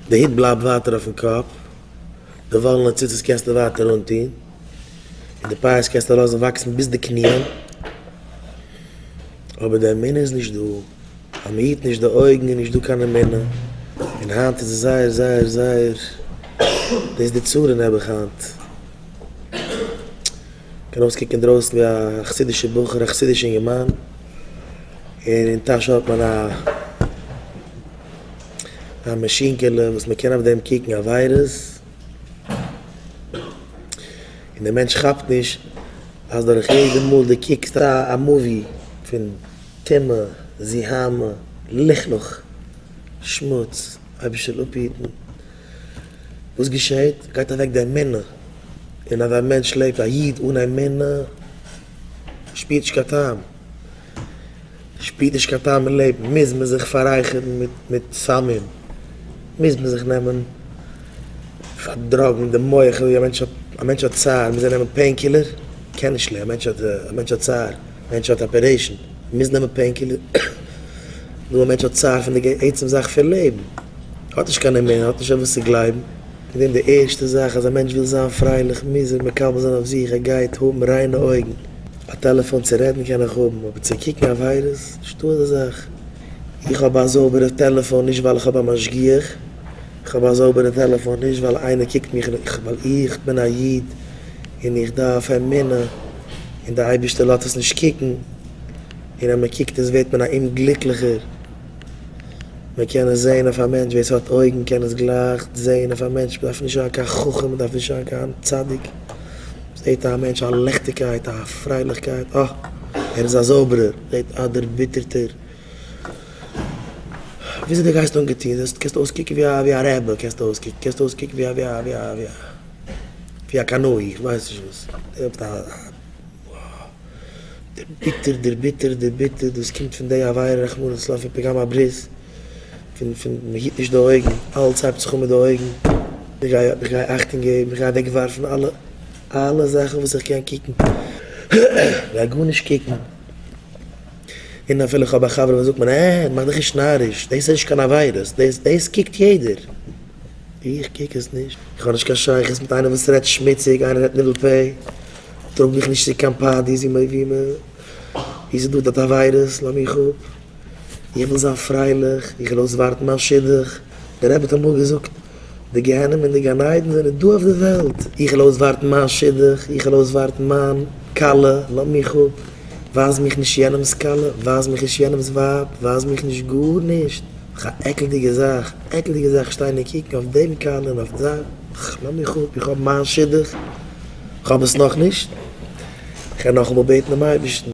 די הוט בלייבט ווייטער אויפן קאפ, די וואלענע ציצית קענסטו ווייטער אנטון, און די פאות קענסטו לאזן וואקסן ביז די קניען, אבער די אמונה איז נישט דא, אז מען היט נישט די אויגן איז נישט דא קיין אמונה, און היינט איז עס זייער זייער זייער, דאס איז די צרה אין נעבעך היינט, קען אויסקוקן אינדרויסן ווי א חסידישע בחור, א חסידישע אינגערמאן, און אין טאש האט מען א. א מאשינקעלע וואס מען קען אויף דעם קוקן א וויירוס, און דער מענטש כאפט נישט אז דורך יעדע מאל דו קוקסט א מאווי פון טומאה, זיהמה, לכלוך, שמוץ, אייבערשטער זאל אפהיטן, וואס געשעהט? גייט אוועק די אמונה, און אז א מענטש לעבט א איד אן אמונה שפירט נישט קיין טעם. שפירט נישט קיין טעם אין לעבן, מוז מען זיך פאררייכערן מיט סמים, מוז מען זיך נעמען פאר דראגן די מח, א מענטש האט צער מוז ער נעמען פעין קילער, קען נישט לעבן, א מענטש האט צער, א מענטש האט אפערעישן, מוז נעמען פעין קילער, נו א מענטש האט צער פון די עצם זאך פון לעבן, האט נישט קיין אמונה, האט נישט אויף וואס צו גלייבן, איז דען די ערשטע זאך אז א מענטש וויל זיין פרייליך מוז ער מקבל זיין אויף זיך ער גייט האבן ריינע אויגן. א טעלעפאן צו רעדן קען איך האבן, אבער צו קוקן א וויירוס? נישטא אזא זאך. איך האב א זויבערע טעלעפאן נישט ווייל איך האב א משגיח, איך האב א זויבערע טעלעפאן נישט ווייל איינער קוקט מיך, ווייל איך בין א איד און איך דארף אמונה און דער אייבערשטער לאזט אונז נישט קוקן, און אז מען קוקט אונז ווערט מען א אומגליקליכער. מען קען עס זען אויף א מענטש, ווער עס האט אויגן קען עס גלייך זען אויף א מענטש, מען דארף נישט זיין קיין חכם, מען דארף נישט זיין קיין צדיק. זעט א מענטש א ליכטיגקייט, א פרייליכקייט, אה, ער איז א זויבערער, זעט א דערביטערטער, וויאזוי דו גייסט אנגעטון, זעסט, קענסט אויסקוקן ווי א רעבע, קענסט אויסקוקן, קענסט אויסקוקן ווי א, ווי א, ווי א, ווי א, ווי א קנאי, איך ווייס נישט וואס, דו האסט א, דערביטערט, דערביטערט, דערביטערט, דאס קומט פון די עבירה, רחמנא לצלן, פון פגם הברית. פון מען היט נישט די אויגן, אלץ הייבט זיך אן מיט די אויגן, איך גיי איך גיי אכטונג געבן, איך גיי אוועק ווארפן אלע אלע זאכן וואס איך קען קוקן, איך גיי גארנישט קוקן, און אפילו איך האב א חבר וואס זאגט מיר אה, מאך דיך נישט נאריש, דאס איז נישט קיין עבירות, דאס דאס קוקט יעדער, איך קוק עס נישט, איך האב נישט קיין שייכות מיט איינער וואס רעדט שמוציג, איינער רעדט ניבול פה, טראג מיך נישט צו קיין פארטיס ווי מען ווי מען ווי ס'איז דא דארט עבירות, לאמיך אפ. איך וויל זיין פרייליך, איך וויל אויסווארטן מיין שידוך, דער רבי האט אמאל געזאגט, די גיהנום און די גן עדן זענען דא אויף די וועלט, איך וויל אויסווארטן מיין שידוך, איך וויל אויסווארטן מיין כלה, לאז מיך אפ, ווייז מיך נישט יענעמ'ס כלה, ווייז מיך נישט יענעמ'ס ווייב, ווייז מיך נישט גארנישט, אך א עקלדיגע זאך, עקלדיגע זאך שטיין און קוקן אויף דעם כלה און אויף די, אך לאז מיך אפ, איך האב מיין שידוך, איך האב עס נאכנישט, איך וועל נאכאמאל בעטן דעם אייבערשטן.